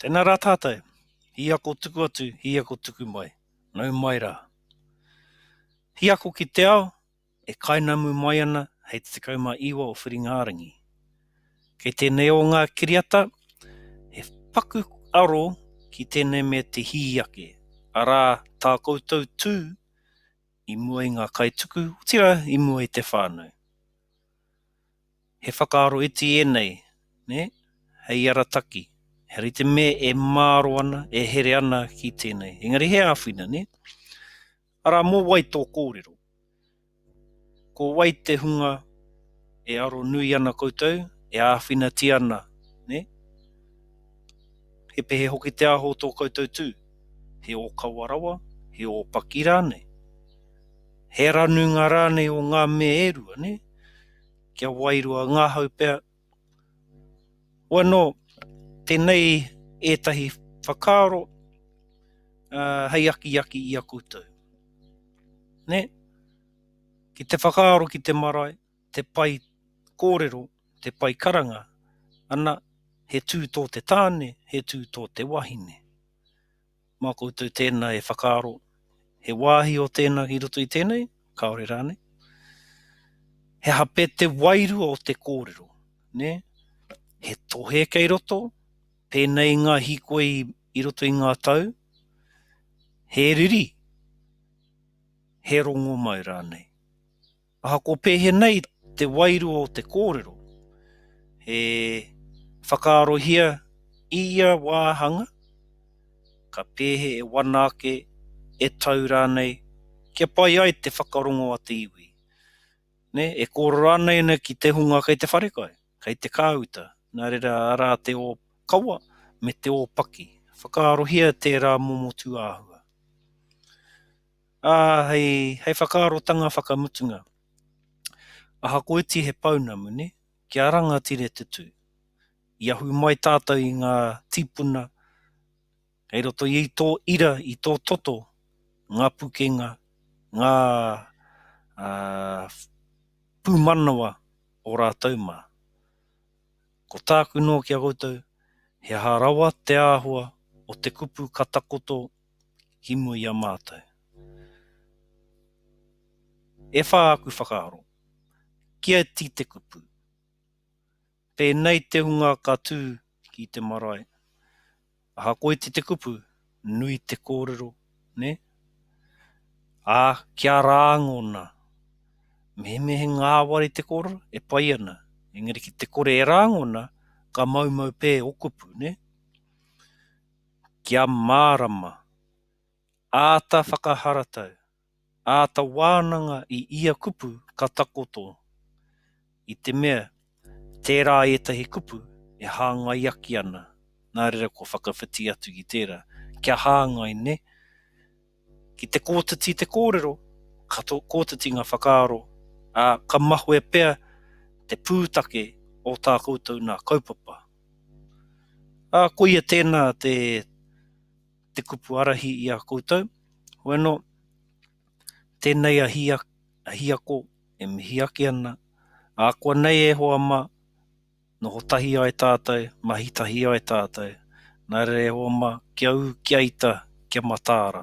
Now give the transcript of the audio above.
Tēnā rā tātou, he ako tuku atu, he ako tuku mai, nau mai rā. He ako ki te ao e kainamu mai ana hei te 19 o Whiringa-ā-rangi. Kei tēnei o ngā kiriata he paku aro ki tēnei me te hī ake, arā tā koutou tū i mua i ngā kaituku, otirā i mua i te whānau. He whakaaro iti ēnei, nē? Hei arataki, heara i te mea e māro ana, e here ana ki tēnei. Engari he āwhina, nē? Arā, mō wai tō kōrero? Ko wai te hunga e aro nui ana koutou, e āwhinatia ana, nē? He pehe hoki te aho o tō koutou tū? He ōkawa rawa? He ōpaki rānei? He aranunga rānei o ngā mea e rua, nē? kia wairua ngahau pea. Wano, tenei etahi whakaaro hei akiaki i a koutou. Ne? Ki te whakaaro ki te marae, te pai korero, te pai karanga, ana, he tu to te tane, he tu to te wahine. Mā koutou tēnā e whakaaro, he wāhi o tēnā ki roto i tēnei, kāore rānei? He aha pea te wairua o te kōrero, nē? He tohe kei roto, pēnei i ngā hīkoi i roto i ngā tau? He riri, he rongomau rānei? Ahakoa pēhenei te wairua o te kōrero, he whakaarohia i ia wāhanga, ka pēhe e wana ake, e tau rānei, kia pai ai te whakarongo a te iwi. Nē, e kōrero ana ēnei ki te hunga kei te wharekai, kei te kāuta, nā reira arā te ōkawa me te ōpaki, whakaarohia tērā momo tūāhua. Ā, hei, hei whakaarotanga whakamutunga, ahakoiti he pounamu, nē, kia rangatira te tū, i ahu mai tātou i ngā tīpuna kei roto i tō ira, i tō toto, ngā pukenga, ngā, ā, pūmanawa o rātou mā. Ko tāku noa ki a koutou, he aha rawa te āhua o te kupu ka takoto himu i a mātou. E whā aku whakaaro, kia iti te kupu. Pēnei te hunga ka tū ki te marae, aha ko iti te kupu, nui te kōrero, nē? Ā, kia rāngona, mehemehe ngāwari te kōrero, e pai ana, engari ki te kore e rāngona, ka maumau pē o kupu, nē? Kia mārama. Āta whakaharatau, āta wānanga i ia kupu ka takoto. I te mea, tērā ētahi kupu e hāngaiaki ana, nā reira kua whakawhiti atu ki tērā. Kia hāngai, nē? Ki te kotiti te kōrero, ka kotiti ngā whakaaro, ā, ka mahue pea te pūtake o tā koutou nā kaupapa. Ā, koia tēnā te, te kupu arahi i a koutou, hoi anō, tēnei a Hia, a Hiako e mihi ake ana, akoa nei e hoa mā, Noho tahi ai tātou, mahi tahi ai tātou, nā reira e hoa mā, kia ū, kia ita, kia mataara.